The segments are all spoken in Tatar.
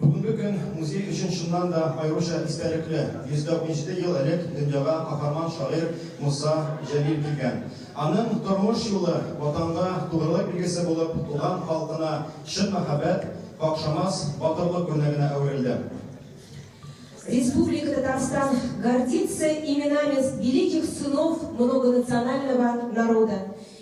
Бүгенге көн музей өчен чыннан да аеруча истәлекле. 147 ел элек дөньяга каһарман шагыйрь Муса Җәлил килгән. Аның тормыш юлы, Ватанга тугрылык билгесе булып, туган халкына чын мәхәббәт, какшамас батырлык үрнәгенә әверелде. Республика Татарстан гордится именами великих сынов многонационального народа.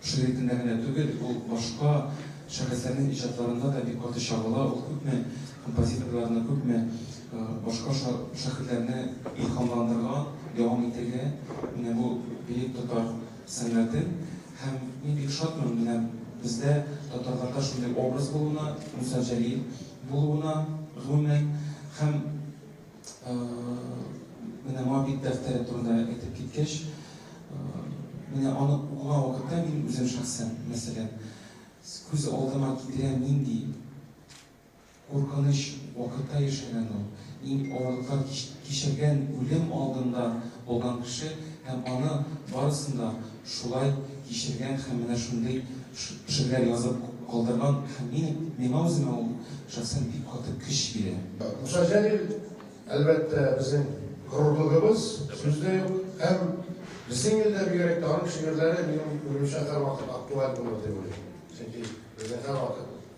Шул ритмда генә түгел, ул башка шәхесләрнең иҗатларында да бик каты чагыла, ул күпме композиторларны, күпме башка шәхесләрне илһамландырган, дәвам итергә менә бу бөек татар сәнгатен. Һәм мин бик шатмын менә бездә татарларда шундый образ булуына, Муса Җәлил булуына, гомумән, һәм Менә Моабит дәфтәре турында әйтеп киткәч, менә аны укыган вакытта мин үзем шәхсән, мәсәлән, күз алдыма китерәм, нинди куркыныч вакытта яшәгән ул, иң авырлыклар кичергән, үлем алдында булган кеше һәм аны барысын да Шулай кичергән һәм менә шундый шигырьләр язып калдырган һәм минем, миңа үземә ул шәхсән бик каты көч бирә. Муса Җәлил, әлбәттә, безнең горурлыгыбыз, сүз дә юк. Һәм безнең илдә бигрәк тә аның шигырьләре, минем уемча, һәрвакыт актуаль булыр дип уйлыйм. Чөнки безнең һәрвакыт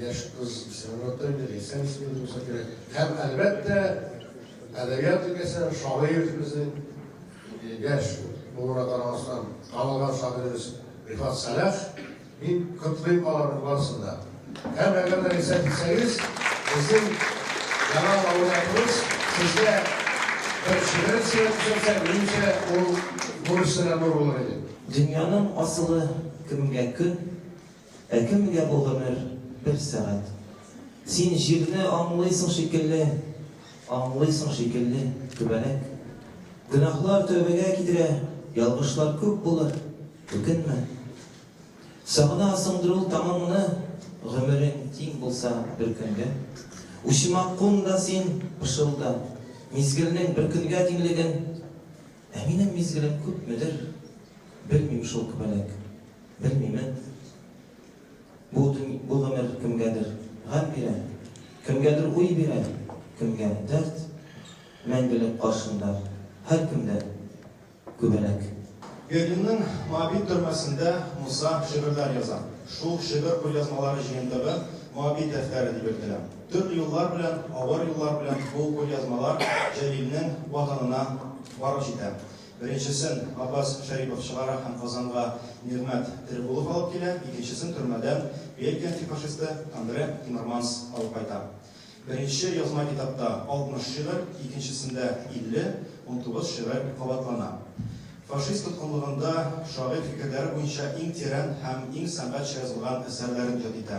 Яшь кыз Сәнгатьтән бер әсәр исеме булса кирәк. Һәм, әлбәттә, әдәбият өлкәсе шагыйрь безнең яшь булуына карамастан танылган шагыйребез Рифат Сәлах. Мин котлыйм аларның барысын да. Һәм әгәр дә рисәт итсәгез, безнең яңа лауреатыбыз сезгә бер шигырен сөйләп төшерсә, минемчә, ул бурычны да нур булыр иде. Дөньяның асылы кемгә көн? Ә кемгә бу гомер, бер сәгать? Син җирне аңлыйсың шикелле, Аңлыйсың шикелле, түбәнәк. Гөнаһлар тәүбәгә китерә, Ялгышлар күп булыр, үкенмә. Сагынасыңдыр ул таңыңны, Гомерең тиң булса бер көнгә. Учыма кун да син, пышылда, Мизгелнең бер көнгә тиңлеген. Ә минем мизгелем күпмедер, белмим шул күбәләк, белмимен. Бу төн, бу гомер кемгәдер гам бирә, кемгәдер уй бирә, кемгә дәрт. Мәңгелек каршында һәркем дә күбәләк. Берлинның Моабит төрмәсендә Муса шигырьләр яза. Шул шигырь кулъязмалары җыентыгы Моабит дәфтәре дип йөртелә. Төрле юллар белән, авыр юллар белән бу кулъязмалар Җәлилнең ватанына барып җитә. Беренчесен Габбас Шәрипов чыгара һәм Казанга Нигъмәт Терегулов алып килә, икенчесен төрмәдән Бельгия антифашисты Андре Тимерманс алып кайта. Беренче язма китапта 60 шигырь, икенчесендә 50, унтугыз шигырь кабатлана. Фашист тоткынлыгында шагыйрь фикерләре буенча иң тирән һәм иң сәнгатьчә язылган әсәрләрен иҗат итә.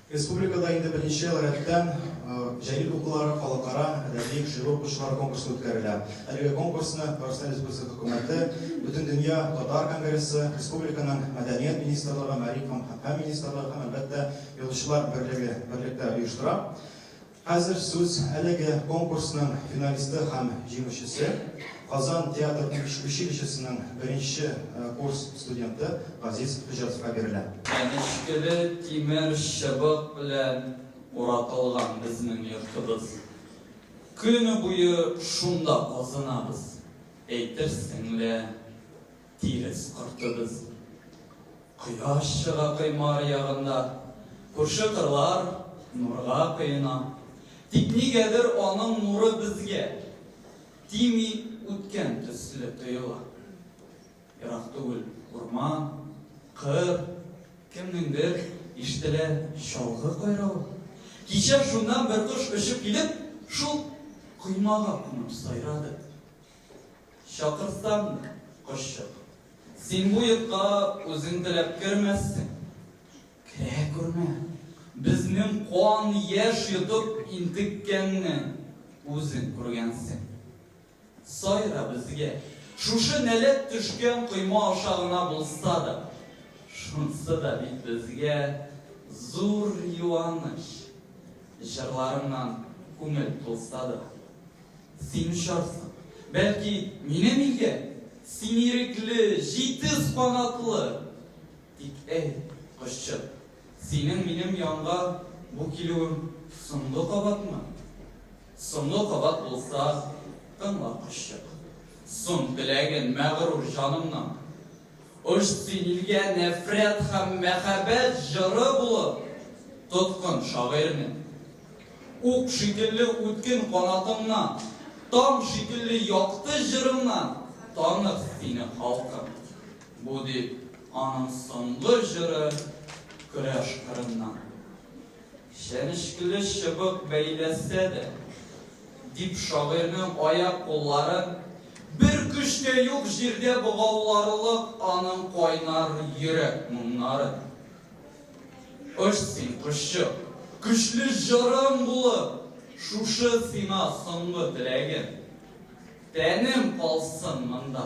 Республикада инде беренче ел рәттән Җәлил укулары халыкара әдәби шигырь укучылар конкурсы үткәрелә. Әлеге конкурсны Татарстан Республикасы Хөкүмәте, Бөтендөнья татар конгрессы, республиканың Мәдәният министрлыгы, Мәгариф һәм фән министрлыгы һәм, әлбәттә, Язучылар берлеге берлектә оештыра. Хәзер сүз әлеге конкурсның финалисты һәм җиңүчесе, Казан театр училищесының беренче курс студенты Газиз Хөҗҗәтовка бирелә. Чәнечкеле тимер чыбык белән уратылган безнең йортыбыз. Көне буе шунда казынабыз, әйтерсең лә. Тирес кортыбыз. Кояш чыга коймар ягында. Күрше кырлар нурга коена. Тик нигәдер аның нуры безгә. Тими үткән төсле тоела. Ерак түгел урман, кыр, кемнеңдер ишетелә чалгы кайравы. Кичә шуннан бер кош очып килеп, шул коймага кунып сайрады. Чакырсаммы, кошчык? Син бу йортка үзең теләп кермәссең. Керә күрмә. Безнең кан яшь йотып интеккәнне үзең күргәнсең. Сайра безгә. Шушы нәләт төшкән койма аша гына булса да. Шунсы да бит безгә зур юаныч. Җырларыңнан күңел тулса да. Син очарсың, бәлки, минем илгә. Син ирекле, җитез канатлы. Тик, әй, кошчык, синең минем янга бу килүең соңгы кабатмы? Соңгы кабат булса, тыңла, кошчык. Сон теләген, мәгърур җанымның. Очты илгә нәфрәт һәм мәхәббәт җыры булып, тоткын шагыйрьне. Ук шикелле үткен канатыңнан, таң шикелле якты җырыңнан танык сине халкым! Бу дип аның соңгы җыры Көрәш кырыннан. Чәнечкеле чыбык бәйләсә дә, дип шагыйрьнең аяк-кулларын бер көч тә юк җирдә богауларлык аның кайнар йөрәк моңнарын. Оч син, кошчык, көчле җырым булып, шушы сиңа соңгы теләгем. Тәнем калсын монда.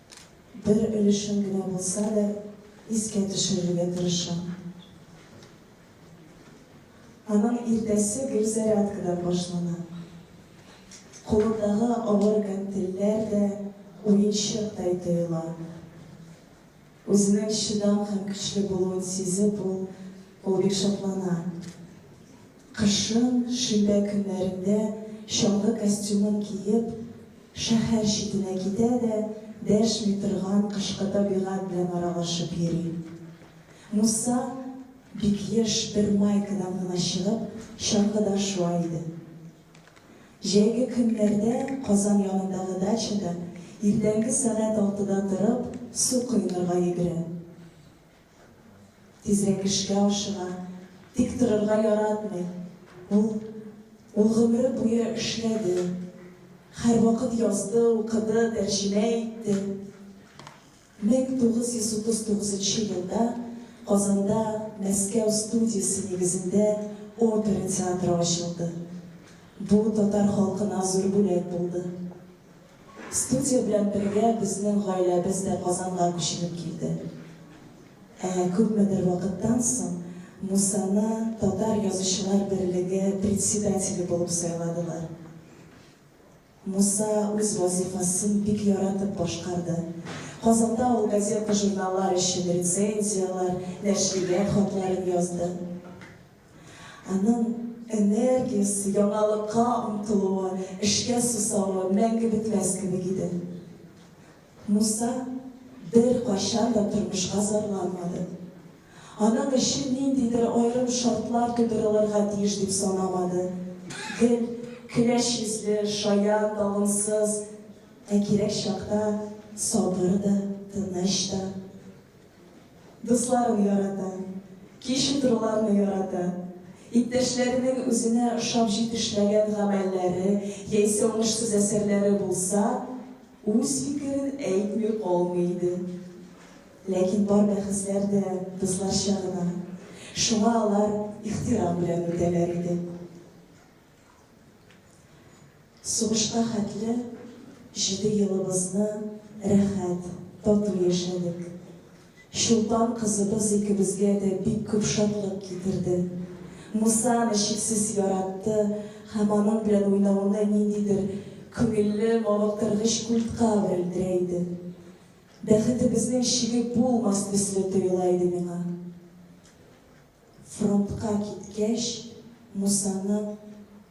бер өлешен генә булса да искә төшерергә тырышам. Аның иртәсе гел зарядкадан башлана. Кулындагы авыр гантельләр дә уенчыктай тоела. Үзенең чыдам һәм көчле булуын сизеп, ул бик шатлана. Кышын, шимбә көннәрендә чаңгы костюмын киеп, шәһәр читенә китә дә дәшми торган кышкы табигать белән аралашып йөри. Муса, бик еш, бер майкадан гына чыгып, чаңгыда шуа иде. Җәйге көннәрдә Казан янындагы дачада иртәнге сәгать алтыда торып, су коенырга йөгерә. Тизрәк эшкә ашыга, тик торырга яратмый. Ул, ул гомере буе эшләде, һәрвакыт язды, укыды, тәрҗемә итте. 1939 нчы елда Казанда Мәскәү студиясе нигезендә опера театры ачылды. Бу татар халкына зур бүләк булды. Студия белән бергә безнең гаиләбез дә Казанга күченеп килде. Ә күпмедер вакыттан соң Мусаны Татар язучылар берлеге председателе булып сайладылар. Муса үз вазифасын бик яратып башкарды. Казанда ул газета-журналлар өчен рецензияләр, нәшрият хатларын язды. Аның энергиясе, яңалыкка омтылуы, эшкә сусавы мәңге бетмәс кебек иде. Муса беркайчан да тормышка зарланмады. Аның өчен ниндидер аерым шартлар тудырылырга тиеш дип санамады. Гел көләч йөзле, шаян, талымсыз, ә кирәк чакта сабыр да, тыныч та, Дусларын ярата. Кич утыруларны ярата. Иптәшләренең үзенә ошап җитешмәгән гамәлләре яисә уңышсыз әсәрләре булса, үз фикерен әйтми калмый иде. Ләкин бар бәхәсләр дә дусларча гына. Шуңа алар ихтирам белән үтәләр иде. Сугышка хәтле җиде елыбызны рәхәт, тату яшәдек. Чулпан кызыбыз икебезгә дә бик күп шатлык китерде. Муса аны чиксез яратты һәм аның белән уйнауны ниндидер күңелле, мавыктыргыч культка әверелдерә иде. Бәхетебезнең чиге булмас төсле тоела иде миңа. Фронтка киткәч, Мусаны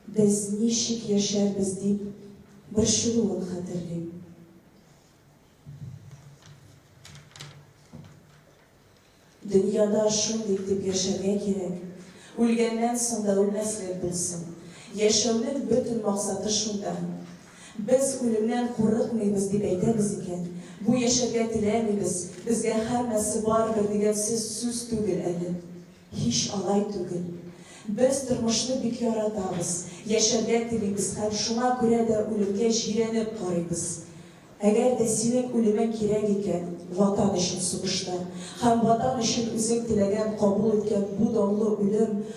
без ничек яшәрбез дип борчылуын хәтерлим. Дөньяда шундый итеп яшәргә кирәк, үлгәннән соң да үлмәслек булсын. Яшәүнең бөтен максаты шунда, Без үлемнән курыкмыйбыз дип әйтәбез икән, бу яшәргә теләмибез, безгә һәммәсе барыбер дигән сез сүз түгел әле. Һич алай түгел. Без тормышны бик яратабыз, яшәргә телибез һәм шуңа күрә дә үлемгә җирәнеп карыйбыз. Әгәр дә синең үлемең кирәк икән, Ватан өчен сугышта, һәм Ватан өчен үзең теләгән, кабул иткән бу данлы үлем,